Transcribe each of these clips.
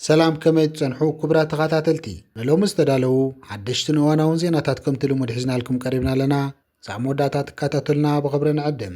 ሰላም ከመይ ትጸንሑ ክብራ ተኸታተልቲ ንሎሚ ዝተዳለዉ ሓደሽትን እዋናውን ዜናታት ከምቲ ልሙድ ሒዝናልኩም ቀሪብና ኣለና ዛዕ መወዳእታ ትከታተሉና ብኽብሪ ንዕድም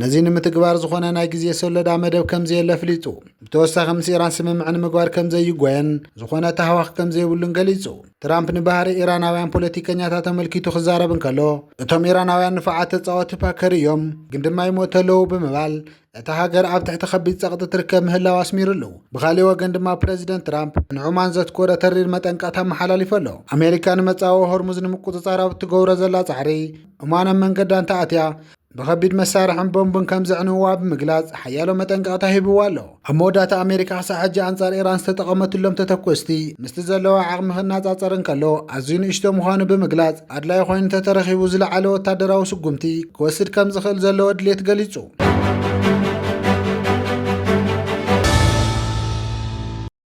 ነዚ ንምትግባር ዝኾነ ናይ ግዜ ሰሎዳ መደብ ከምዘየለ ኣፍሊጡ። ብተወሳኺ ምስ ኢራን ስምምዕ ንምግባር ከምዘይጎየን ዝኾነ ታህዋኽ ከምዘይብሉን ገሊጹ። ትራምፕ ንባህሪ ኢራናውያን ፖለቲከኛታት ኣመልኪቱ ክዛረብ እንከሎ እቶም ኢራናውያን ንፉዓት ተጻወቲ ፓከር እዮም፣ ግን ድማ ይሞቱ ኣለዉ ብምባል እታ ሃገር ኣብ ትሕቲ ከቢድ ጸቕጢ ትርከብ ምህላው ኣስሚርሉ። ብኻልእ ወገን ድማ ፕረዚደንት ትራምፕ ንዑማን ዘትኮረ ተሪር መጠንቀቕታ ኣመሓላሊፉ ኣሎ። ኣሜሪካ ንመጻወ ሆርሙዝ ንምቁጽጻር ኣብ እትገብሮ ዘላ ጻዕሪ ዑማን ኣብ መንገዳ እንተኣትያ ብኸቢድ መሳርሕን ቦምብን ከም ዘዕንውዋ ብምግላጽ ሓያሎ መጠንቀቕታ ሂብዋ ኣሎ። ኣብ መወዳእታ ኣሜሪካ ክሳዕ ሕጂ ኣንጻር ኢራን ዝተጠቐመትሎም ተተኮስቲ ምስቲ ዘለዋ ዓቕሚ ክነጻጸር እንከሎ ኣዝዩ ንእሽቶ ምዃኑ ብምግላጽ ኣድላይ ኮይኑ ተተረኺቡ ዝለዓለ ወታደራዊ ስጉምቲ ክወስድ ከም ዝኽእል ዘለዎ ድሌት ገሊጹ።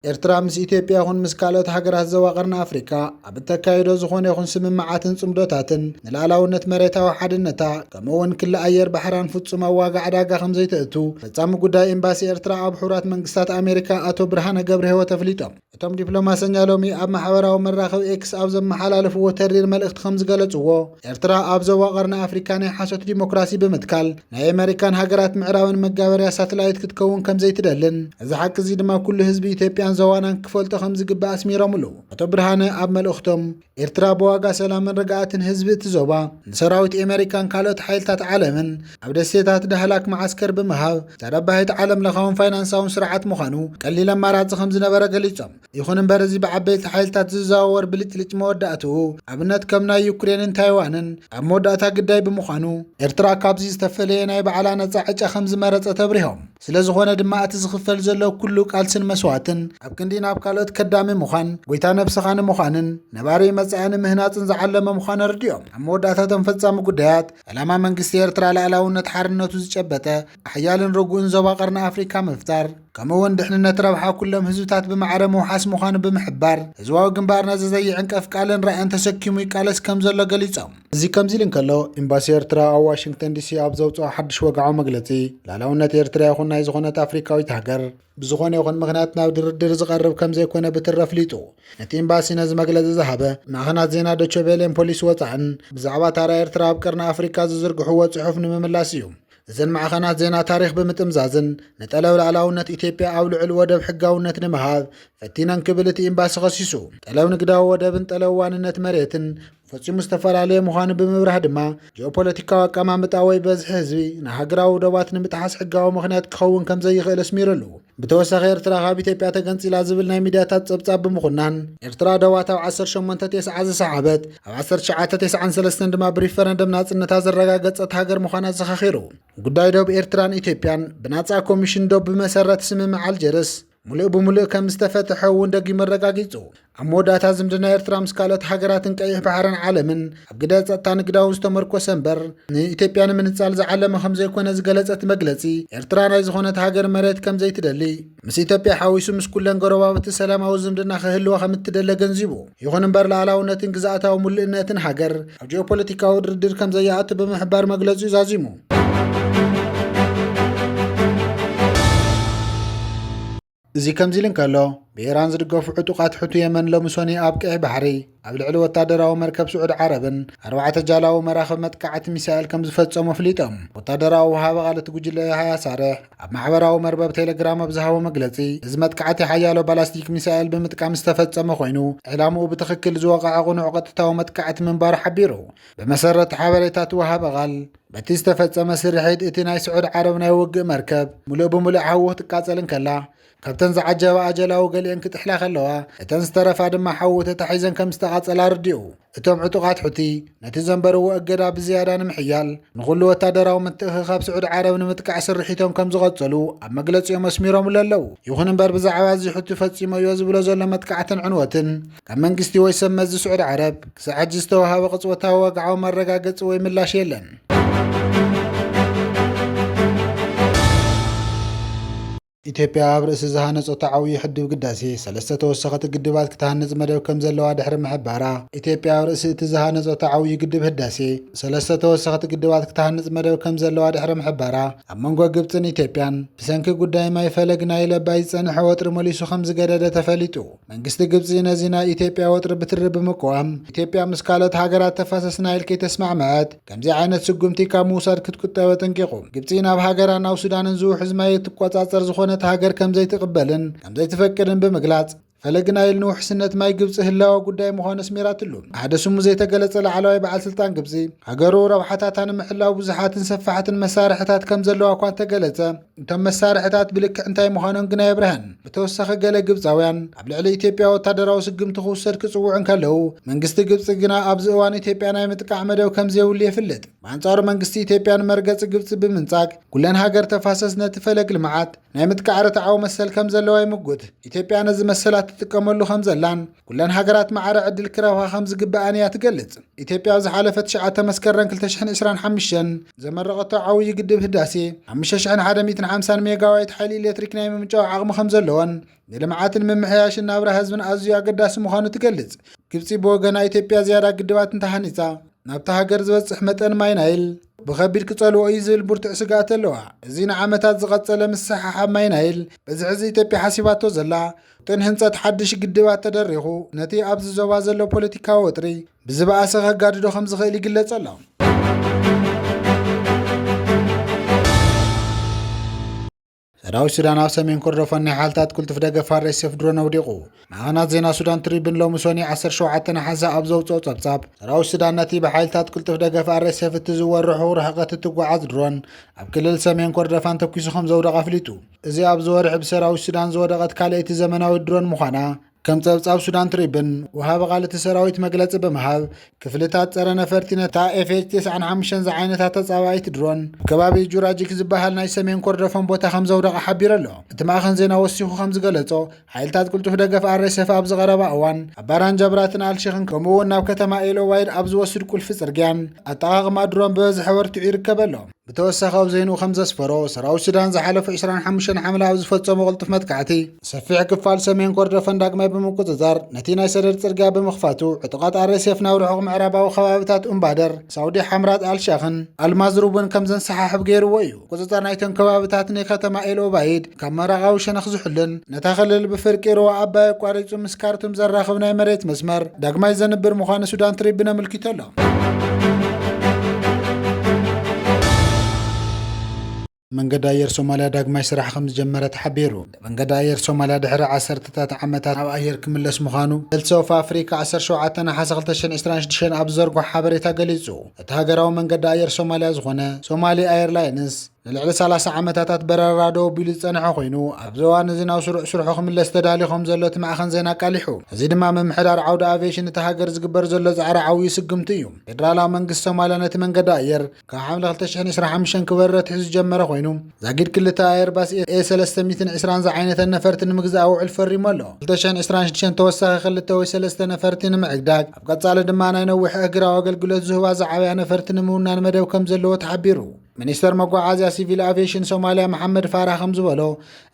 ኤርትራ ምስ ኢትዮጵያ ይኹን ምስ ካልኦት ሃገራት ዞባ ቀርኒ ኣፍሪቃ ኣብ እተካይዶ ዝኾነ ይኹን ስምምዓትን ጽምዶታትን ንላዕላውነት መሬታዊ ሓድነታ ከምኡ እውን ክሊ ኣየር ባሕራን ፍጹም ኣብ ዋጋ ዕዳጋ ከም ዘይተእቱ ፈጻሚ ጉዳይ ኤምባሲ ኤርትራ ኣብ ሕቡራት መንግስታት ኣሜሪካ ኣቶ ብርሃነ ገብረ ህይወት ኣፍሊጦም። እቶም ዲፕሎማሰኛ ሎሚ ኣብ ማሕበራዊ መራኸቢ ኤክስ ኣብ ዘመሓላለፍዎ ተሪር መልእኽቲ ከም ዝገለጽዎ ኤርትራ ኣብ ዞባ ቀርኒ ኣፍሪካ ናይ ሓሶት ዲሞክራሲ ብምትካል ናይ ኣሜሪካን ሃገራት ምዕራብን መጋበርያ ሳትላይት ክትከውን ከምዘይትደልን እዚ ሓቂ እዚ ድማ ኩሉ ህዝቢ ኢትዮጵያን ዞባናን ክፈልጦ ከምዝግባእ ኣስሚሮምሉ። ኣቶ ብርሃነ ኣብ መልእኽቶም ኤርትራ ብዋጋ ሰላምን ርግኣትን ህዝቢ እቲ ዞባ ንሰራዊት ኣሜሪካን ካልኦት ሓይልታት ዓለምን ኣብ ደሴታት ዳህላክ መዓስከር ብምሃብ ተረባሂት ዓለም ለኻውን ፋይናንሳውን ስርዓት ምዃኑ ቀሊል ኣማራጺ ከምዝነበረ ገሊጾም። ይኹን እምበር እዚ ብዓበይቲ ሓይልታት ዝዘዋወር ብልጭልጭ መወዳእትኡ ኣብነት ከም ናይ ዩክሬንን ታይዋንን ኣብ መወዳእታ ግዳይ ብምዃኑ፣ ኤርትራ ካብዚ ዝተፈለየ ናይ ባዕላ ነጻ ዕጫ ከም ዝመረጸት ኣብሪሆም። ስለ ዝኾነ ድማ እቲ ዝኽፈል ዘሎ ኩሉ ቃልስን መስዋእትን ኣብ ክንዲ ናብ ካልኦት ከዳሚ ምዃን፣ ጎይታ ነብስኻ ንምዃንን ነባሪ መጻኢ ንምህናጽን ዝዓለመ ምዃኑ ኣረዲኦም። ኣብ መወዳእታ እቶም ፈጻሚ ጉዳያት፣ ዕላማ መንግስቲ ኤርትራ ልኣላውነት ሓርነቱ ዝጨበጠ፣ ሓያልን ረጉእን ዞባ ቀርኒ ኣፍሪካ ምፍጣር ከምኡ እውን ድሕንነት ረብሓ ኩሎም ህዝብታት ብማዕረ ምውሓስ ምዃኑ ብምሕባር ህዝባዊ ግንባር ነዚ ዘይዕንቀፍ ቃልን ራእን ተሰኪሙ ይቃለስ ከም ዘሎ ገሊፆም እዚ ከምዚ ኢሉ እንከሎ ኤምባሲ ኤርትራ ኣብ ዋሽንግተን ዲሲ ኣብ ዘውፅኦ ሓድሽ ወግዓዊ መግለፂ ላላውነት ኤርትራ ይኹን ናይ ዝኾነት ኣፍሪካዊት ሃገር ብዝኾነ ይኹን ምክንያት ናብ ድርድር ዝቐርብ ከም ዘይኮነ ብትረ ኣፍሊጡ ነቲ ኤምባሲ ነዚ መግለፂ ዝሃበ ማዕኸናት ዜና ዶቸቬሌን ፖሊስ ወፃእን ብዛዕባ ታራ ኤርትራ ኣብ ቀርኒ ኣፍሪካ ዝዝርግሕዎ ፅሑፍ ንምምላስ እዩ እዘን ማዕኸናት ዜና ታሪኽ ብምጥምዛዝን ንጠለብ ላዕላውነት ኢትዮጵያ ኣብ ልዑል ወደብ ሕጋውነት ንምሃብ ፈቲነን ክብል እቲ ኤምባሲ ኸሲሱ። ጠለብ ንግዳዊ ወደብን ጠለብ ዋንነት መሬትን ፈፂሙ ዝተፈላለየ ምዃኑ ብምብራህ ድማ ጂኦፖለቲካዊ ኣቀማምጣ ወይ በዝሒ ህዝቢ ንሃገራዊ ዶባት ንምጥሓስ ሕጋዊ ምኽንያት ክኸውን ከም ዘይኽእል ኣስሚርሉ። ብተወሳኺ ኤርትራ ካብ ኢትዮጵያ ተገንጺላ ዝብል ናይ ሚድያታት ጸብጻብ ብምኹናን ኤርትራ ደዋት ኣብ ዓሰርተ ሸሞንተ ቴስዓ ዝሰሓበት ኣብ ዓሰርተ ትሽዓተ ቴስዓን ሰለስተን ድማ ብሪፈረንደም ናጽነታ ዘረጋገጸት ሃገር ምዃና ኣዘኻኺሩ። ጉዳይ ዶብ ኤርትራን ኢትዮጵያን ብናጻ ኮሚሽን ዶብ ብመሰረት ስምምዕ ኣልጀርስ ምሉእ ብምሉእ ከም ዝተፈትሐ እውን ደጊሙ ኣረጋጊጹ። ኣብ መወዳእታ ዝምድና ኤርትራ ምስ ካልኦት ሃገራትን ቀይሕ ባሕርን ዓለምን ኣብ ግደ ጸጥታ ንግዳዊ ዝተመርኮሰ እምበር ንኢትዮጵያ ንምንጻል ዝዓለመ ከም ዘይኮነ ዝገለጸ እቲ መግለጺ ኤርትራ ናይ ዝኾነት ሃገር መሬት ከም ዘይትደሊ ምስ ኢትዮጵያ ሓዊሱ ምስ ኩለን ጎረባብቲ ሰላማዊ ዝምድና ክህልዋ ከም እትደሊ ኣገንዚቡ። ይኹን እምበር ልኣላውነትን ግዝኣታዊ ምሉእነትን ሃገር ኣብ ጂኦፖለቲካዊ ድርድር ከም ዘይኣቱ ብምሕባር መግለጺኡ ዛዚሙ። እዚ ከምዚ'ሉ እንከሎ፣ ብኢራን ዝድገፉ ዕጡቓት ሑቲ የመን ሎሚ ሶኒ ኣብ ቀይሕ ባሕሪ ኣብ ልዕሊ ወታደራዊ መርከብ ስዑድ ዓረብን ኣርባዕተ ጃላዊ መራኽብ መጥቃዕቲ ሚሳኤል ከም ዝፈጸሙ ኣፍሊጦም። ወታደራዊ ወሃቢ ቃል እቲ ጉጅለ የሃያ ሳርሕ ኣብ ማሕበራዊ መርበብ ቴሌግራም ኣብ ዝሃቦ መግለጺ እዚ መጥቃዕቲ ሓያሎ ባላስቲክ ሚሳኤል ብምጥቃም ዝተፈጸመ ኮይኑ ዕላምኡ ብትኽክል ዝወቕዐ ቕኑዕ ቐጥታዊ መጥቃዕቲ ምንባሩ ሓቢሩ። ብመሰረት ሓበሬታ እቲ ወሃቢ ቃል በቲ ዝተፈጸመ ስርሒት እቲ ናይ ስዑድ ዓረብ ናይ ውግእ መርከብ ሙሉእ ብምሉእ ሓዊ ክትቃጸል እንከላ ካብተን ዝዓጀባ ኣጀላዊ ገሊአን ክጥሕላ ከለዋ እተን ዝተረፋ ድማ ሓዊ ተታሒዘን ከም ዝተቓጸላ ኣርዲኡ እቶም ዕጡቓት ሑቲ ነቲ ዘንበርዎ እገዳ ብዝያዳ ንምሕያል ንኹሉ ወታደራዊ ምትእኽኻብ ስዑድ ዓረብ ንምጥቃዕ ስርሒቶም ከም ዝቐጸሉ ኣብ መግለጺኦም ኣስሚሮምሉ ኣለዉ ይኹን እምበር ብዛዕባ እዚ ሑቲ ፈጺሞዮ ዝብሎ ዘሎ መጥቃዕትን ዕንወትን ካብ መንግስቲ ወይ ሰብ መዚ ስዑድ ዓረብ ክሳዕ ሕጂ ዝተዋሃበ ቅጽወታዊ ወግዓዊ መረጋገጺ ወይ ምላሽ የለን። ኢትዮጵያ ኣብ ርእሲ ዝሃነፆቶ ዓብዪ ሕድብ ግዳሴ ሰለስተ ተወሰኸቲ ግድባት ክትሃንፅ መደብ ከም ዘለዋ ድሕሪ ምሕባራ ኢትዮጵያ ኣብ ርእሲ እቲ ዝሃነፆቶ ዓብዪ ግድብ ህዳሴ ሰለስተ ተወሰኸቲ ግድባት ክትሃንፅ መደብ ከም ዘለዋ ድሕሪ ምሕባራ ኣብ መንጎ ግብፅን ኢትዮጵያን ብሰንኪ ጉዳይ ማይ ፈለግ ናይ ለባይ ዝፀንሐ ወጥሪ መሊሱ ከም ዝገደደ ተፈሊጡ መንግስቲ ግብፂ ነዚ ናይ ኢትዮጵያ ወጥሪ ብትሪ ብምቅዋም ኢትዮጵያ ምስ ካልኦት ሃገራት ተፋሰስ ናይል ከይተስማዕመዐት ከምዚ ዓይነት ስጉምቲ ካብ ምውሳድ ክትቁጠብ ኣጠንቂቑ። ግብፂ ናብ ሃገራ ናብ ሱዳንን ዝውሕዝ ማይ እትቆፃፀር ዝኾነት ሃገር ከምዘይትቕበልን ከምዘይትፈቅድን ብምግላፅ ፈለግ ናይል ንውሕስነት ማይ ግብፂ ህላወ ጉዳይ ምዃኑ ኣስሚራትሉ። ሓደ ስሙ ዘይተገለፀ ላዕለዋይ በዓል ስልጣን ግብፂ ሃገሩ ረብሓታታ ንምሕላው ብዙሓትን ሰፋሕትን መሳርሕታት ከምዘለዋ እኳ እንተገለፀ እቶም መሳርሕታት ብልክዕ እንታይ ምዃኖም ግን ኣየብርሀን። ብተወሳኺ ገለ ግብጻውያን ኣብ ልዕሊ ኢትዮጵያ ወታደራዊ ስጉምቲ ክውሰድ ክጽውዑ እንከለዉ፣ መንግስቲ ግብጺ ግና ኣብዚ እዋን ኢትዮጵያ ናይ ምጥቃዕ መደብ ከምዘይብሉ የፍልጥ። ብኣንጻሩ መንግስቲ ኢትዮጵያ ንመርገጺ ግብጺ ብምንጻግ ኩለን ሃገር ተፋሰስ ነቲ ፈለግ ልምዓት ናይ ምጥቃዕ ርትዓዊ መሰል ከምዘለዋ ይምጉት። ኢትዮጵያ ነዚ መሰላ ትጥቀመሉ ከምዘላን፣ ኩለን ሃገራት ማዕረ ዕድል ክረኽባ ከም ዝግብኣን እያ ትገልጽ። ኢትዮጵያ ኣብ ዝሓለፈ ትሽዓተ መስከረም 2025 ዘመረቐቶ ዓብዪ ግድብ ህዳሴ 5150 ሜጋዋይት ሓይሊ ኤሌክትሪክ ናይ ምምንጫው ዓቕሚ ከም ዘለዎን ንልምዓትን ምምሕያሽን ናብራ ህዝብን ኣዝዩ ኣገዳሲ ምዃኑ ትገልጽ። ግብፂ ብወገና ኢትዮጵያ ዝያዳ ግድባት እንተሃኒፃ ናብታ ሃገር ዝበፅሕ መጠን ማይ ናይል ብኸቢድ ክጸልዎ እዩ ዝብል ብርቱዕ ስግኣት ኣለዋ። እዚ ንዓመታት ዝቐጸለ ምስሕሓብ ማይ ናይል በዚ ሕዚ ኢትዮጵያ ሓሲባቶ ዘላ እቶን ህንፀት ሓድሽ ግድባት ተደሪኹ ነቲ ኣብዚ ዞባ ዘሎ ፖለቲካዊ ወጥሪ ብዝበኣሰ ከጋድዶ ከም ዝኽእል ይግለጽ ኣሎ። ሰራዊት ሱዳን ኣብ ሰሜን ኮርዶፋን ናይ ሓልታት ቅልጡፍ ደገፍ ኣርኤስኤፍ ድሮን ኣውዲቑ ማዕኸናት ዜና ሱዳን ትሪብን ሎሚ ሶኒ 17 ነሓሰ ኣብ ዘውፅኦ ጸብጻብ ሰራዊት ሱዳን ነቲ ብሓይልታት ቅልጡፍ ደገፍ ኣርኤስኤፍ እትዝወር ርሑቕ ርሕቐት እትጓዓዝ ድሮን ኣብ ክልል ሰሜን ኮርዶፋን ተኪሱ ከም ዘውደቐ ኣፍሊጡ እዚ ኣብዚ ወርሒ ብሰራዊት ሱዳን ዝወደቐት ካልኣይቲ ዘመናዊት ድሮን ምዃና ከም ጸብጻብ ሱዳን ትሪብን ወሃቢ ቃል እቲ ሰራዊት መግለጺ ብምሃብ ክፍልታት ጸረ ነፈርቲ ነታ ኤፍኤች 95 ዝዓይነታ ተጻባኢት ድሮን ከባቢ ጁራጂክ ዝበሃል ናይ ሰሜን ኮርደፎን ቦታ ከም ዘውደቐ ሓቢሩ ኣሎ። እቲ ማእኸን ዜና ወሲኹ ከም ዝገለጾ ሓይልታት ቅልጡፍ ደገፍ ኣረሰፍ ኣብዚ ቀረባ እዋን ኣብ ባራን ጀብራትን ኣልሸኽን ከምኡ እውን ናብ ከተማ ኤሎዋይድ ኣብ ዝወስድ ቁልፊ ጽርግያ ኣጠቓቕማ ድሮን ብበዝሒ ኣበርቲዑ ይርከብ ኣሎ ብተወሳኺ ኣብ ዜንኡ ከም ዘስፈሮ ሰራዊት ሱዳን ዝሓለፉ 25 ሓምለ ኣብ ዝፈጸሞ ቅልጡፍ መጥቃዕቲ ሰፊሕ ክፋል ሰሜን ኮርዶፈን ዳግማይ ብምቁጽጻር ነቲ ናይ ሰደድ ጽርግያ ብምኽፋቱ ዕጡቓት ኣረሰፍ ናብ ርሑቕ ምዕራባዊ ከባቢታት ኡምባደር ሳውዲ ሓምራት ኣልሸኽን ኣልማዝሩብን ከም ዘንሰሓሕብ ገይርዎ እዩ ቁፅፅር ናይቶም ከባብታት ንከተማ ኤልኦባይድ ካብ ምዕራቓዊ ሸነኽ ዝሕሉን ነታ ክልል ብፍርቂ ሩባ ኣባይ ኣቋሪፁ ምስ ካርቱም ዘራኽብ ናይ መሬት መስመር ዳግማይ ዘንብር ምዃኑ ሱዳን ትሪብን ኣመልኪቱ ኣሎ። መንገዲ ኣየር ሶማልያ ዳግማይ ስራሕ ከምዝጀመረ ተሓቢሩ። መንገዲ ኣየር ሶማልያ ድሕሪ ዓሰርተታት ዓመታት ናብ ኣየር ክምለስ ምዃኑ ሄልት ኦፍ ኣፍሪካ ዓሰርተ ሸውዓተ ነሓሰ ክልተ ሽሕን ዕስራን ሽዱሽተን ኣብ ዝዘርጎሖ ሓበሬታ ገሊጹ። እቲ ሃገራዊ መንገዲ ኣየር ሶማልያ ዝኾነ ሶማሊ ኣየርላይንስ ንልዕሊ ሰላሳ ዓመታታት በረራ ደው ኣቢሉ ዝጸንሐ ኮይኑ ኣብዚ እዋን እዚ ናብ ስሩዕ ስርሑ ክምለስ ተዳልዩ ከም ዘሎ እቲ ማዕኸን ዜና ኣቃሊሑ። እዚ ድማ ምምሕዳር ዓውዲ ኣቪየሽን እታ ሃገር ዝግበር ዘሎ ጻዕሪ ዓውዩ ስጉምቲ እዩ። ፌደራላዊ መንግስቲ ሶማልያ ነቲ መንገዲ ኣየር ካብ ሓምለ 2025 ክበርር ኣትሒዙ ዝጀመረ ኮይኑ ዛጊድ ክልተ ኣየርባስ ኤ 320 ዝዓይነተን ነፈርቲ ንምግዛእ ውዕል ፈሪሙ ኣሎ። 2026 ተወሳኺ ክልተ ወይ ሰለስተ ነፈርቲ ንምዕዳግ ኣብ ቀጻሊ ድማ ናይ ነዊሕ እህግራዊ ኣገልግሎት ዝህባ ዝዓበያ ነፈርቲ ንምውናን መደብ ከም ዘለዎ ተሓቢሩ። ሚኒስተር መጓዓዝያ ሲቪል ኣቪዬሽን ሶማልያ መሓመድ ፋራህ ከም ዝበሎ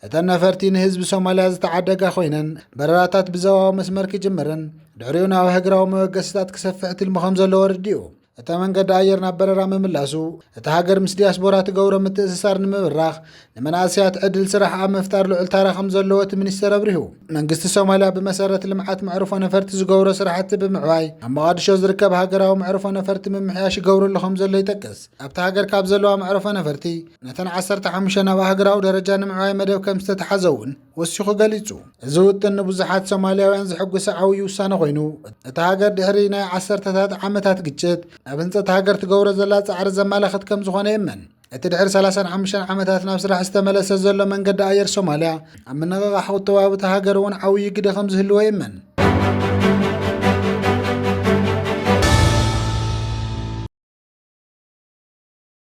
እተን ነፈርቲ ንህዝቢ ሶማልያ ዝተዓደጋ ኮይነን በረራታት ብዘባዊ መስመር ክጅምርን ድሕሪኡ ናብ ሃገራዊ መበገሲታት ክሰፍሕ ትልሚ ከም ዘለዎ ኣረዲኡ። እታ መንገዲ ኣየር ናብ በረራ ምምላሱ እታ ሃገር ምስ ዲያስፖራ ትገብሮ ምትእስሳር ንምብራኽ ንመናእሰያት ዕድል ስራሕ ኣብ ምፍጣር ልዑል ታራ ከም ዘለዎ እቲ ሚኒስቴር ኣብሪሁ። መንግስቲ ሶማልያ ብመሰረት ልምዓት መዕርፎ ነፈርቲ ዝገብሮ ስራሕቲ ብምዕባይ ኣብ መቓድሾ ዝርከብ ሃገራዊ መዕርፎ ነፈርቲ ምምሕያሽ ይገብረሉ ከም ዘሎ ይጠቅስ። ኣብቲ ሃገር ካብ ዘለዋ መዕርፎ ነፈርቲ ነተን 15 ናብ ኣህግራዊ ደረጃ ንምዕባይ መደብ ከም ዝተተሓዘ እውን ወሲኹ ገሊጹ። እዚ ውጥን ንብዙሓት ሶማልያውያን ዘሐጉሰ ዓውዪ ውሳነ ኮይኑ፣ እታ ሃገር ድሕሪ ናይ ዓሰርተታት ዓመታት ግጭት ናብ ህንጸት ሃገር ትገብሮ ዘላ ጻዕሪ ዘመላኽት ከም ዝኾነ ይእመን። እቲ ድሕሪ ሰላሳን ሓሙሽተን ዓመታት ናብ ስራሕ ዝተመለሰ ዘሎ መንገዲ ኣየር ሶማልያ፣ ኣብ ምንቕቓሕ ቁጠባዊ እታ ሃገር እውን ዓውዪ ግደ ከም ዝህልዎ ይእመን።